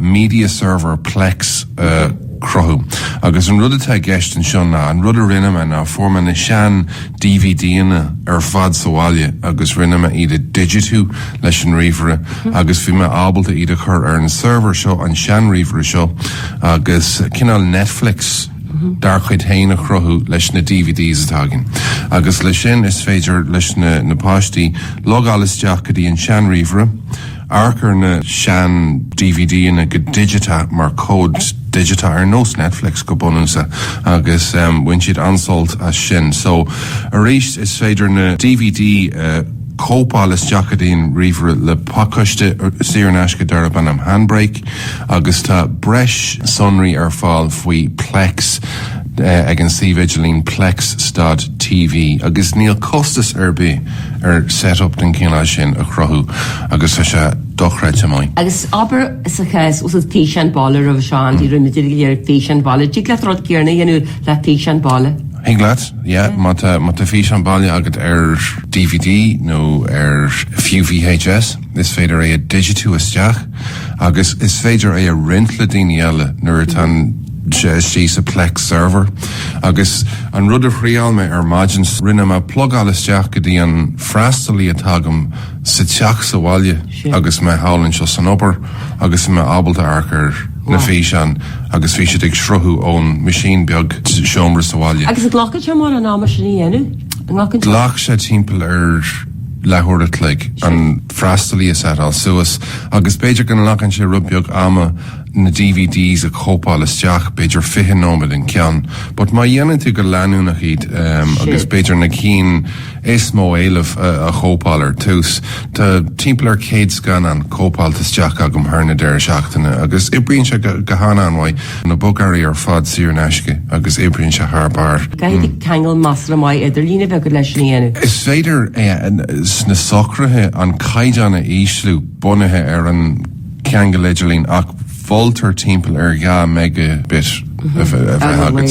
media server plex a chruthú. Agus an rud atá i gceist anseo ná, an rud a rinne mé ná fuair mé na sean DVDanna ar fad sa bhaile agus rinne mé iad a dhigitiú leis an ríomhaire agus bhí mé ábalta iad a chur ar an server seo, an sean ríomhaire seo agus cineál Netflix dár chuid féin a chruthú leis na DVDs atá againn. Agus le sin is féidir leis na páistí logáil isteach go dtí an sean ríomhaire Amharc ar na sean-DVDanna go digiteach, mar comhad digiteach, ar nós Netflix go bunúsach, agus bhain siad an-sult as sin. Só, arís, is féidir na dvd cóipeáil isteach go dtí'n ríomhaire le pacáiste saor in aisce darb ainm Handbrake, agus tá breis sonraí ar fáil faoi Plex. ag an suíomh idirlín Plex Stad TV agus níl costas ar bith ar set up den chineál sin a chruthú agus tá sé dochreidte maith. Agus abair sa chás, úsaid físeán báile roimhe seo Andy, rinne tú go léir físeáin bhaile, dtig leat rud céarna a dhéanamh le físeán báile? Thig leat, yeah, má tá má tá físeán báile agat ar dvd nó ar fiú VHS is féidir é a digitiú isteach agus is féidir é a roinnt le daoine eile nuair atá an istigh sa Plex server agus an rud a thriáil mé ar maidin, rinne mé plugáil isteach go dtí an freastalaí atá agam sa teach sa bhaile agus mé thall anseo san obair agus mé ábalta amharc ar na físeáin agus bhí siad ag sruthú ón machine beag sa seomra sa bhaile. Agus an nglacann sé mórán ama sin a dhéanamh? Ghlac sé timpeall ar leathuair a chloig an freastalaí a seitáil suas agus b'fhéidir go nglacann sé rud beag ama, na DVDs a chóipeáil isteach, b'fhéidir fiche nóiméad an ceann, but má dhéanann tú go leanúnach iad ehm agus Sin. b'fhéidir na cinn is mó éileamh a a chóipeáil ar tús. Tá timpeall ar céad scannán cóipeáilte isteach agam thar na deireadh seachtaine agus oibríonn sé go go han-an-mhaith, na bogearraí ar fad saor in aisce agus oibríonn sé thar barr. Caithfidh tú ceangal masla maith idirlíne bheith agat leis sin a dhéanamh. Is féidir é a sna socruithe an caighdeán a ísliú bunaithe ar an. ceangal idirlín ach moltar timpeall ar 2 mega bit a bheith agat.